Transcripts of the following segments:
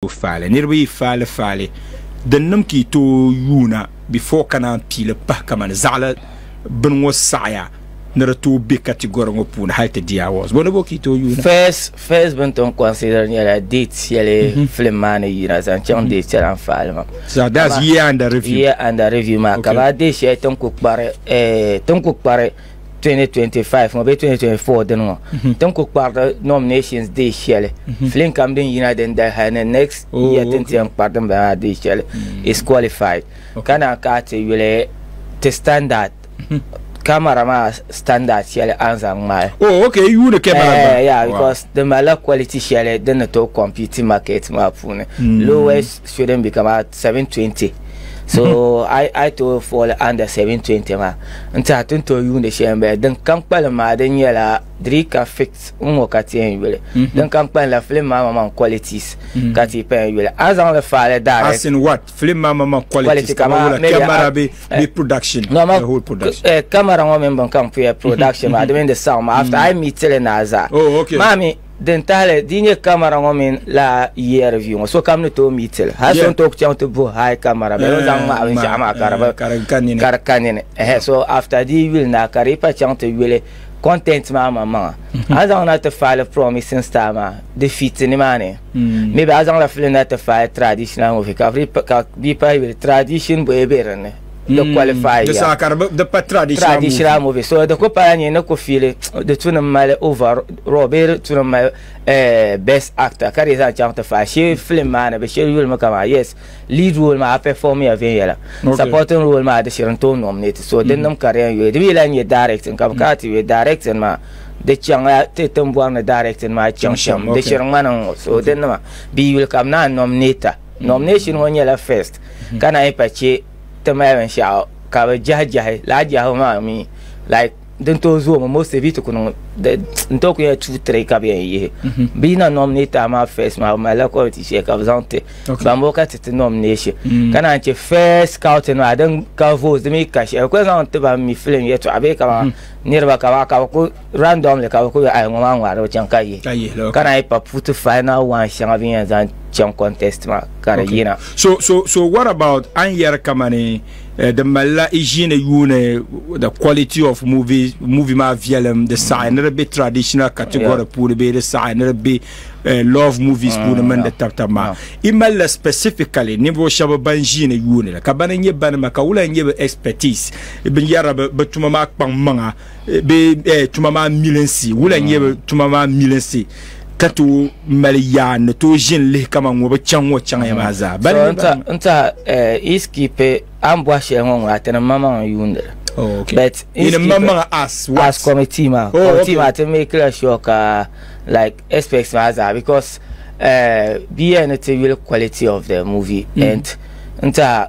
tooi faali niriba yi faali faali din niŋ ka yi tooi yuuna before ka naan piili pahi kamani zaɣila bini ŋɔ saɣaya ni di tooi be category ŋɔ puuni hali ti di awards bɔ ni bo ka yi tooi yuuna. First first bini tom consider nyɛla date shɛli mhm. film maa ni yina zaŋ chaŋ mhm. date shɛli n faali maa. So that's year under review. Year under review maa ka ba date shɛli tin ku kpari eh, tin ku kpari. 2025 ŋɔ bee 2024 dini ŋɔ mhm. tin ku kpariti nominations dee shɛli mhm. film kam din yina din dali hali ni next oh, year tin tiɛn kpari din bala dee shɛli mm. is qualified ka naan ka ti yuli ti standard mhm. camera maa standard shɛli an zaŋ ŋmaai oh ok yuuni camera eh, gba yeah because di malila quality shɛli din ni tooi compete market maa puuni mm. lowest shouldn't be kama 720 so mm-hmm. I, I to fall under 720 ma n tiɛha tin to yuundi shɛli n bala din kam kpalim maa din nyɛla drika fix n ŋɔ ka tiɛn yuli mm-hmm. din kam kpalim la film maa mama qualities mm-hmm. ka ti pɛn yuli a zaŋ li faale direct as in what film maa mama qualities kama wula camera be eh, be production no ma eh, camera ŋɔ min bin kam puya production maa di mini di sound ma after I meet tili na azaa oh okay maami Din tahili di nyɛ kamara ŋɔ mini laa ERV ŋɔ sokam ni tooi mi tili hali so n tooi chaŋ ti buhi high kamara bɛ ni zaŋ ŋmahi binshaɣu maa ka di ka nini so after di yuli na ka di pa chaŋ ti yuli content maa man maŋa mm-hmm. a zaŋ na ti faali promising star maa di fit ni maa ni mm. maybe a zaŋ la fili na ti faali traditional movie ka bi pa yuli tradition bɔye bɛ dinni di mm. qualify di saa ka di pa traditional movie traditional movie so di ku pala nyɛ ni ku fiili di tu ni mali over raw bee di tu ni mali eh, best actor ka di zaŋ chaŋ ti fa shee film maa ni bi shiri yuli mi kama yes lead role maa perform ya viɛnyɛla supporting role maa di shiri n tooi nominate so din mm. nim ka di yɛn yuli di bi yɛla nyɛ directing ka bi kana ti yuli directing maa di chaŋla ti tiŋbɔri ni directing maa chaŋ shɛm di shiri ŋmani ŋɔ so di nima bi yuli kam naan nominate Nomination ŋɔ nyɛla first ka na yi pa che ti mali binshɛɣu ka bi jahi jahi laa jahibu maa mi like din tooi zoomi most of it kuni n tooi kuyɛla two three ka bi yɛn yihi bi yina nominate a maa first maa bi malila committee shɛli ka bi zaŋ ti ban bɔ ka ti ti nomination ka naan che first scouting maa din ka votes di mi ka shɛli bi ku zaŋ ti ban mi film yɛtɔɣa bee ka niriba ka ba ka bi ku randomly ka bi ku ayi ŋɔ maa ŋmaari bi chaŋ ka yi ka yihi lɔ ka naan yi pa puti final one shɛŋa bi yɛn zaŋ chaŋ contest maa ka di yina so so so what about an yɛri kamani eh, di malila i ʒiini yuuni the quality of movie movie maa viɛlim di saɣi ni di bɛ traditional category Yeah. puuni bee di saɣi ni di bɛ eh, love movies puuni mini di yeah. tabtab maa Yeah. i malila specifically ninvuɣu shɛba ban ʒiini yuuni li ka bani nyɛ bani ma ka wula nyɛ bi expertise binyɛra bi bi tuma maa kpaŋ maŋa bɛ tuma maa milinsi wula nyɛ bɛ tuma maa milinsi ka tooi mali yaa ni tooi ʒini lihi kama ŋɔ bi chaŋ ŋɔ chaŋya maa zaa So bali n ta n ta eh, is kipe a ni bɔhi shɛli ŋɔ ŋɔ ati ni ma maŋa n yuuni li Oh, okay. but Yi ni ma maŋa as what? as committee maa Oh, committee okay. maa ti make la sure ka like aspects maa zaa because eh, bia ni ti yuli quality of the movie and n ta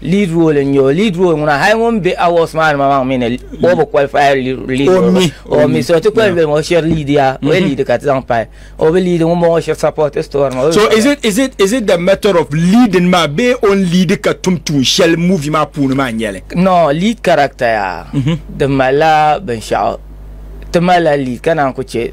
Lead role n-nyɛ o. Lead role ŋuna hali ŋun be awards maa ni maŋmaŋ mi ni o bi qualify lead role mi. O mi. So ti kuli lihim o shiri lead ya o yi lead ka ti zaŋ pahi. O bi lead ŋun bɔŋɔ shiri support story maa. So is it is it is it the method of leading maa bee o ni lead ka tum tuun shɛli movie maa puuni maa n-nyɛli? No, lead character ya di malila binshɛɣu. Ti malila lead ka naan ku che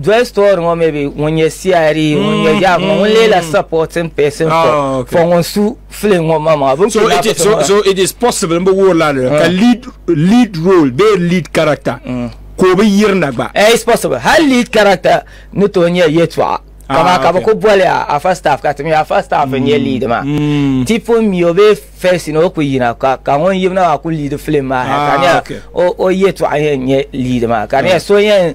Joy story ŋɔ maybe ŋun nyɛ CID ŋun nyɛ mm, yaɣa ŋɔ ŋun lee la mm. supporting person for ah, for ŋun su film ŋɔ ma maa so it is so so it is possible mbo wo la ka ah. lead lead role be lead character mm. ko be yirna gba eh it's possible hal lead character ni to nyɛ yetwa kama ah, ka bɛ ku boli a first staff ka timi a first staff n nyɛ lead maa ti pun mi o be first ni o ku yina ka ka ŋun yibna maa ku lead film maa ka ne o yetwa yɛn nyɛ lead maa ka ne so yɛn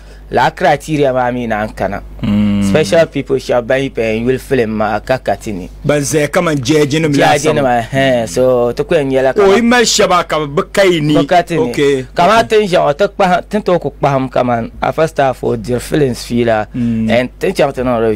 Laa criteria maa mi naan kana. Hmm. Special people shall ban yi pɛn yuli film maa ka ka ti ni. Ban zaya kaman judge nim laasabu. Judge nima hɛn so ti kuyɛn nyɛla kama. O yi mali shɛba ka bi ka yi ni. Bi ka ti ni. Kama tin ʒɛŋ o ti kpahim tin to ku kpahim kaman afa staff o diri films fiila. Hmm. And tin chaŋ ti niŋ review.